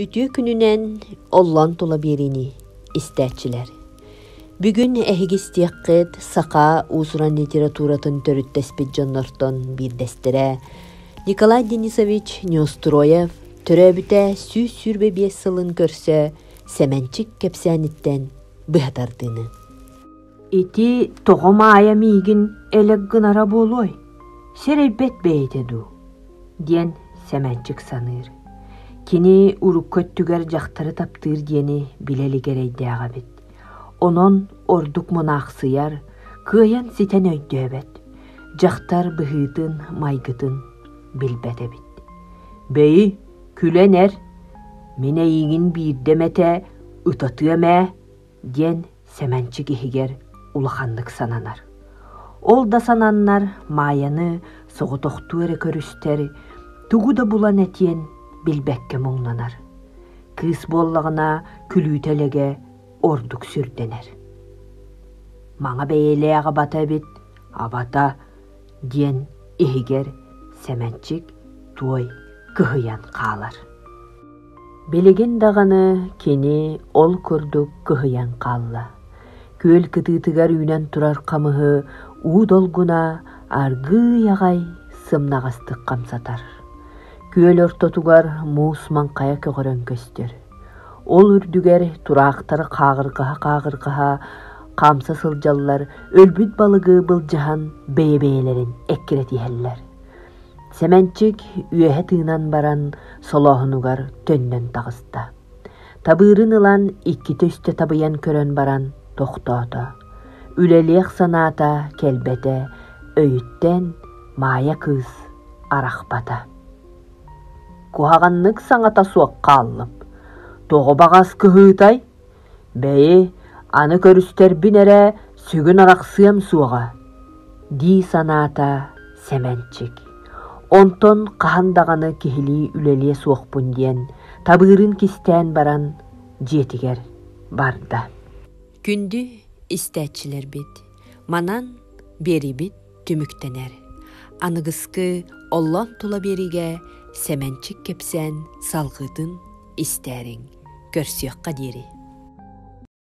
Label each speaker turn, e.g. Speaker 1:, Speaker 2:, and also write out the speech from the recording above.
Speaker 1: Үтүө күнүнэн оллон тула биэриини истээччилэр. Бүгүн эһиги истиэххит саха уусуран литературатын төрүттэспит дьоннортон биирдэстэрэ Николай Денисович Неустроев төрөөбүтэ сүүс сүүрбэ биэс сылын көрсө Сэмэнчик кэпсээниттэн быһа тардыыны. Ити тоҕо Маайа миигин элэк гынара буолуой, сэрэйбэт бэйэтэ дуу? диэн Сэмэнчик саныыр. Кини урукку өттүгэр дьахтары таптыыр диэни билэ илик эрэйдээх эбит. Онон ордук мунаахсыйар, кыайан ситэн өйдөөбөт. Дьахтар быһыытын, майгытын билбэт эбит. «Бэйи, күлэн эр, мин эйиигин биирдэ эмэтэ ытатыам ээ» диэн Сэмэнчик иһигэр улаханнык сананар. Ол да сананнар Маайаны соҕотохтуу эрэ көрүстэр, тугу да булан этиэн билбэккэ муҥнанар. Кыыс буоллаҕына күлүүтэ элэгэ ордук сүрдэнэр. Маҥа бэйэлээх абата эбит, абата диэн иһигэр Сэмэнчик туой кыһыйан хаалар. Билигин даҕаны кини ол курдук кыһыйан хаалла, күөл кытыытыгар үүнэн турар хамыһы уу долгуна аргыый аҕай сымнаҕастык хамсатар, күөл ортотугар муус маҥхайа көҕөрөн көстөр, ол үрдүгэр тураахтары хааҕырҕаһа-хааҕырҕаһа хаамса сылдьаллар, өлбүт балыгы былдьаһан бэйэ-бэйэлэрин эккирэтиһэллэр. Сэмэнчик үөһэ тыынан баран солооһунугар төннөн таҕыста. Табыырын ылан иккитэ үстэ табыйан көрөн баран тохтоото. Үлэлиэх санаата кэлбэтэ өйүттэн Маайа кыыс арахпата. «Куһаҕаннык саҥата суох хааллым. Тоҕо баҕас кыһыытай?» Бэйи, аны көрүстэрбин эрэ сүгүн арахсыам суоҕа, дии санаата Сэмэнчик. Онтон хаһан даҕаны киһилии үлэлиэ суохпун диэн табыырын кистээн баран дьиэтигэр барда. Күндү истээччилэрбит, манан биэрибит түмүктэнэр. Аныгыскы оллон тула биэриигэ Сэмэнчик кэпсээн салҕыытын истээриҥ, көрсүөххэ диэри.